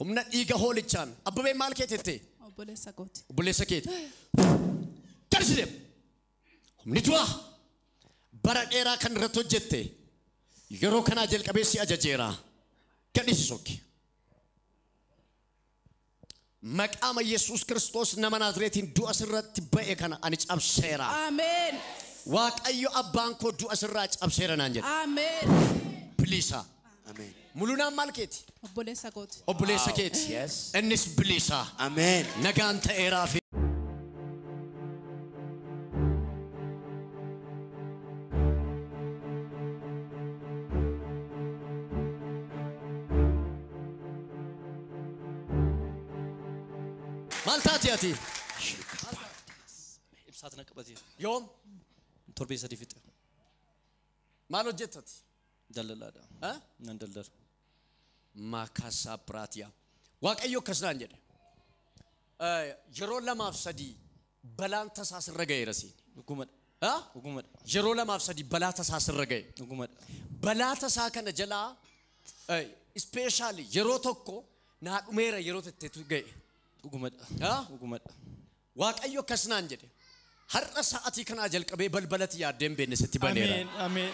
Humna dhiiga hoolichaan. Abbabeen maal keeti jettee? Obboleessa kooti. Obboleessa keeti. Gadi si deema. Humni du'aa bara dheeraa kan irratti hojjette yeroo kanaa jalqabee si ajajeera. Gadi si sokki. Maqaama Yesuus Kiristoos nama Naazreetiin du'a sirratti ba'e kana ani cabseera. Ameen. Waaqayyo abbaan koo du'a sirraa cabseera naan jedhe. Ameen. Biliisa. Ameen. Mulunaan maal keeti? Obboleessa kooti. Obboleessa Wow. keeti. Yes. Innis bilisa. Ameen. Nagaan ta'eeraa fi maal taati ati? Ibsaat na qabatee. Yoom? Torbee sadii fixe. Maal hojjetta ati? Daldalaadha. Ha? Nan daldala. Maakaasaa Biraatiyaa. Waaqayyo akkas naan jedhe. Eh, Yeroo lamaaf sadii balaan tasaa sirra ga'eera siin. Dhugumadha. Ha? Dhugumadha. Yeroo lamaaf sadii balaa tasaa sirra ga'e. Dhugumadha. Balaa tasaa kana jalaa ispeeshaali yeroo tokko naa dhumeera yeroo tettetu ga'e. Dhugumadha. Ha? Dhugumadha. Waaqayyo akkas naan jedhe. Har'a sa'atii kanaa jalqabee balbala ati yaaddee hin beekne sitti baneera. Ameen. Ameen.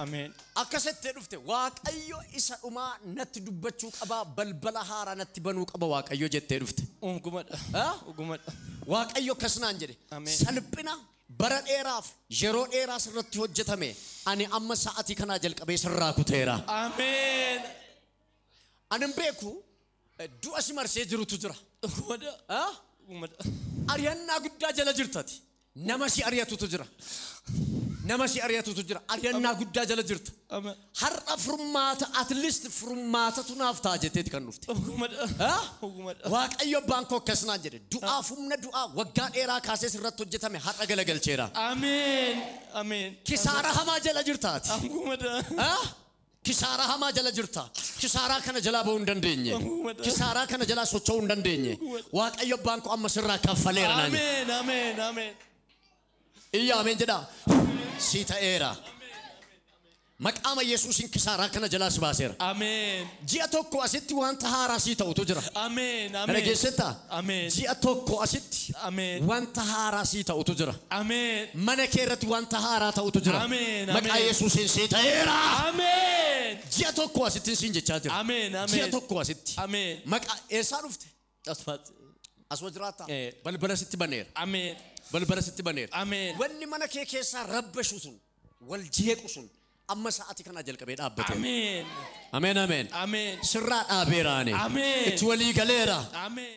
Ameen. Akkas jettee dhufte Waaqayyo isa dhumaa natti dubbachuu qaba, balbala haaraa natti banuu qaba Waaqayyo jettee dhufte. Dhugumadha. Ah? Dhugumadha. Waaqayyo akkas naan jedhe. Ameen. Salphina bara dheeraaf yeroo dheeraa sirratti hojjetame ani amma sa'atii kanaa jalqabee sirraa kuteera. Ameen. Ani hin beeku Du'a si marsee jirutu jira. Dhugumada. Ah? Dhugumada. Ari'annaa guddaa jala jirtati. Nama si ari'atutu jira. Nama si ari'atutu jira. Ari'annaa guddaa jala jirta. Amen. Har'a furmaata at least furmaatatu naaf ta'a jetteeti kan dhufte. Dhugumada. Ah? Dhugumada. Waaqayyo abbaan koo akkas naan jedhe. Du'aaf humna du'aa waggaa dheeraa kaasee sirratti hojjetame har'a galagalcheera. Amen. Amen. Kisaara hamaa jala jirtaati. Dhugumada. Ah? Kisaaraa hamaa jala jirta. Kisaaraa kana jalaa ba'uu hin dandeenye. Kisaaraa kana jalaa socho'uu hin dandeenye. Waaqayyo abbaan koo amma sirraa kaffaleera naan jedhe. Ameen, ameen, ameen. Iyya ameen jedhaa. Si ta'eera. Maqaama Yesuusiin kisaaraa kana jalaa si baaseera. Ameen, Ji'a tokko asitti wanta haaraa sii ta'utu jira. ameen, Kana ameen. keessattaa Ameen. ji'a tokko asitti Ameen. wanta haaraa sii ta'utu jira. Ameen. Mana kee irratti wanta haaraa ta'utu jira. Ameen, ameen. Maqaa Yesuusiin sii ta'eera. Ameen. Ji'a tokko asittin siin jechaa jira. Ameen, ameen. Ji'a tokko asitti. Ameen. Maqaa eessaa dhufte? Asumatti. Asuma jiraattaa? Eh. Balbala sitti baneera. Ameen. Balbala sitti baneera. Ameen. Wanni mana kee keessaa rabbashu sun, wal jeequ sun amma sa'aatii kanaa jalqabee dhaabbateera. Ameen. Ameen ameen. Ameen. Sirraa dhaabeera ani. Ameen. Itti walii galeera. Ameen.